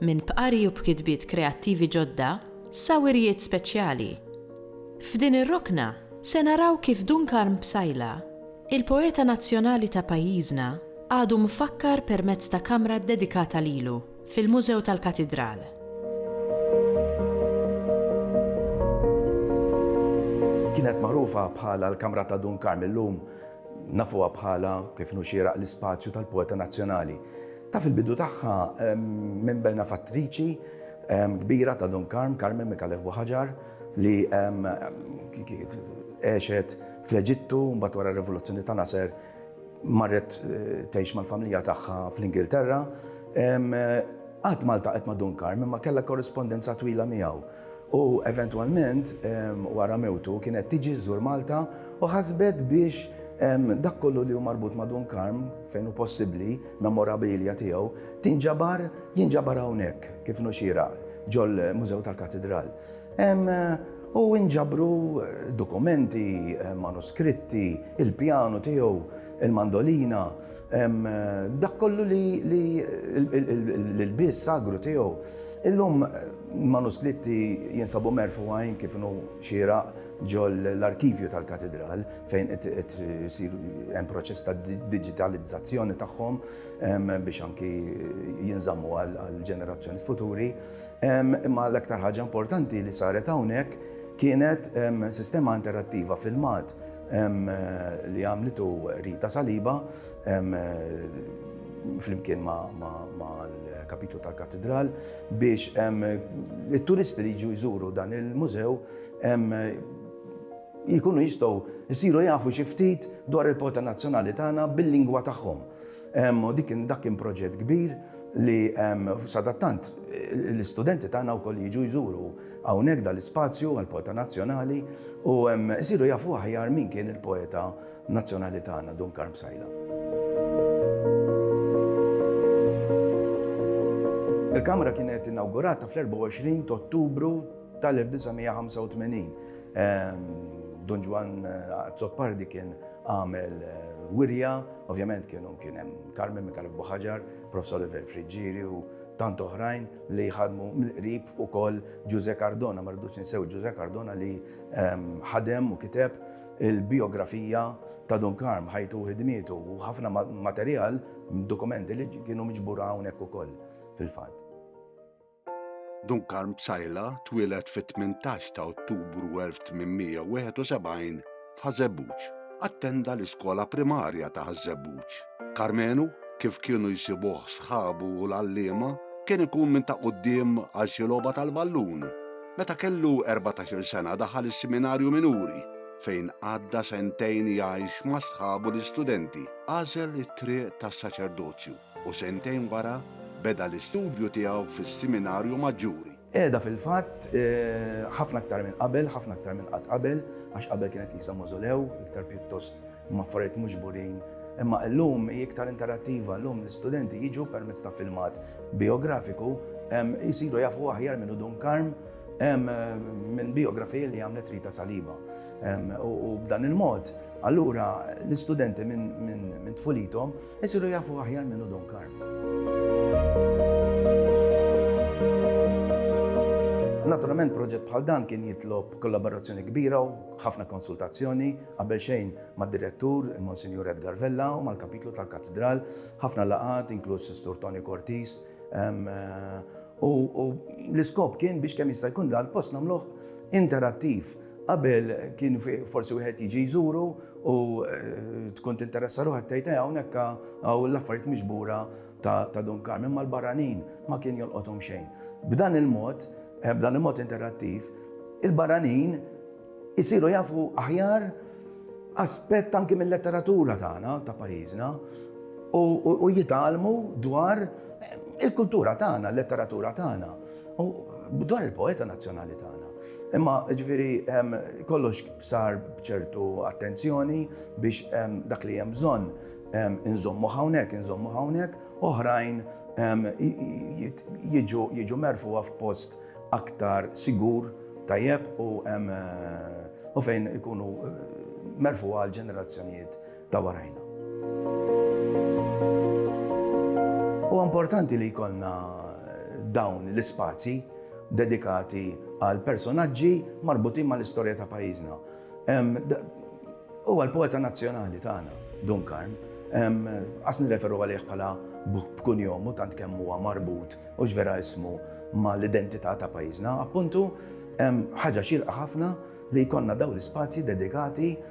minn bqari u b'kitbiet kreattivi ġodda sa wirjiet speċjali. F'din ir-rokna se naraw kif Dun Karm Psaila, il-poeta nazzjonali ta' pajjiżna, għadu mfakkar permezz ta' kamra ddedikata lilu fil-Mużew tal-Katidral. Kienet magħrufa bħala l-Kamra ta' Dun Karm, illum nafuha bħala, kif inhu xieraq, l-Ispazju tal-Poeta Nazzjonali. Ta' fil-bidu tagħha minn benefattriċi kbira ta' Don Karm, Carmen Mikalef Buħaġar, li għexet fl-Eġittu, mbagħad wara r-Rivoluzzjoni ta' Nasser marret eh, tgħix mal-familja tagħha fl-Ingilterra. Qatt Malta qed ma' Don Karm, imma kellha korrispondenza twila miegħu. U eventwalment, wara mewtu, kienet tiġi żżur Malta u ħasbet biex dak kollu li hu marbut ma' Dun Karm, fejn hu possibbli, memorabilia tiegħu, tinġabar, jinġabar hawnhekk, kif inhu xieraq, ġol-Mużew tal-Katidral. U inġabru dokumenti, manuskritti, il-pjanu tiegħu, il-mandolina. Dak kollu li l-biss sagru tiegħu. Illum manuskritti jinsabu merfugħin kif inhu xieraq ġol l-arkivju tal-katidral fejn qed isir hemm proċess ta' diġitalizzazzjoni tagħhom biex anki jinżammu għal ġenerazzjoni futuri. Imma l-aktar ħaġa importanti li saret hawnhekk kienet sistema interattiva filmat li għamlitu Rita Saliba flimkien ma' l-kapitlu tal-katedral biex il-turisti li ġu jżuru dan il-mużew jikunu jistow jisiru jafu xiftit dwar il-pota nazzjonali tagħna bil-lingwa tagħhom. Dik dak kien proġett kbir li sadattant l-istudenti tagħna wkoll jiġu jżuru Hawnhekk dan l-ispazju għall-poeta nazzjonali u isiru jafu aħjar min kien il-poeta nazzjonali tagħna Dun Karm Sajla. Il-Kamra kienet inaugurata fl-24 ta' Ottubru tal-1985. Ehm, Don Ġwan eh, Azzopardi kien għamel eh, wirja, ovvjament kienu kien hemm Carmen Mikalef Buħaġar, Professor Oliver Friġġiri u tant oħrajn li jħadmu mill-qrib ukoll Ġużè Cardona, ma rridux ninsew Ġużè Cardona li ehm, ħadem u kiteb il-biografija ta' Don Karm, ħajtu ħidmietu u ħafna materjal, dokumenti li kienu miġbura hawnhekk ukoll fil-fatt. Don Karm Psajla twieled fit-18 ta' Ottubru 1871 f'Ħaż-Żebbuġ. Attenda l-iskola primarja ta' Ħaż-Żebbuġ. Karmenu, kif kienu jsibuh sħabu u l-għalliema, kien ikun minn ta' quddiem għal xi logħba tal-ballun. Meta kellu erbatax-il sena daħal is-Siminarju Minuri, fejn għadda sentejn jgħix ma' sħabu l-istudenti. Għażel it-triq tas-saċerdozju u sentejn wara beda l-istudju tiegħu fis-Siminarju Maġġuri. Qiegħda fil-fatt ħafna aktar minn qabel, ħafna aktar minn qatt qabel, għax qabel kienet qisha mawżolew, iktar pjuttost maffariet mhux burin Imma llum hi iktar interattiva, llum l-istudenti jiġu permezz ta' filmat biografiku, jisiru jafu aħjar minn Udun Karm, minn biografija li għamlet Rita Saliba. U b'dan il-mod, allura l-istudenti minn tfulitom Isiru jafu aħjar minnu Don Karm. Naturalment proġett bħal dan kien jitlob kollaborazzjoni kbira u ħafna konsultazzjoni qabel xejn mad-direttur Monsignor Edgar Vella u mal-kapitlu tal-katedral, ħafna laqat inkluż Sistur Tony Cortis. Ehm, eh, u l-iskop kien biex kemm jista' jkun dal-post nagħmluh interattiv Qabel kien forsi wieħed jiġi jżuru u eh, tkun tinteressa ruħek tgħid eh, hawnhekk hawn l-affarijiet miġbura ta' Dun Karmen mal-barranin ma kien jolqothom xejn. B'dan il-mod, eh, b'dan il-mod interattiv, il-barranin isiru jafu aħjar aspett anki mill-letteratura tagħna ta' pajjiżna u jitalmu dwar il-kultura tagħna, l-letteratura tagħna. U dwar il-poeta nazzjonali tagħna. Imma ġviri kollox sar bċertu attenzjoni biex dak li hemm bżonn inżommu hawnhekk, inżommu hawnhekk, oħrajn jiġu merfuha f'post aktar sigur tajjeb u fejn ikunu merfuha għal ġenerazzjonijiet ta' warajna. Huwa importanti li jkollna dawn l-ispazji dedikati għal personaġġi marbutin mal-istorja ta' pajjiżna. Huwa l-poeta nazzjonali tagħna, Dunkarn, għas nirreferu għalih bħala b'kun jomu tant kemm huwa marbut u ġvera ismu ma l-identità ta' pajjiżna, appuntu ħaġa xirqa ħafna li jkollna daw l-ispazji dedikati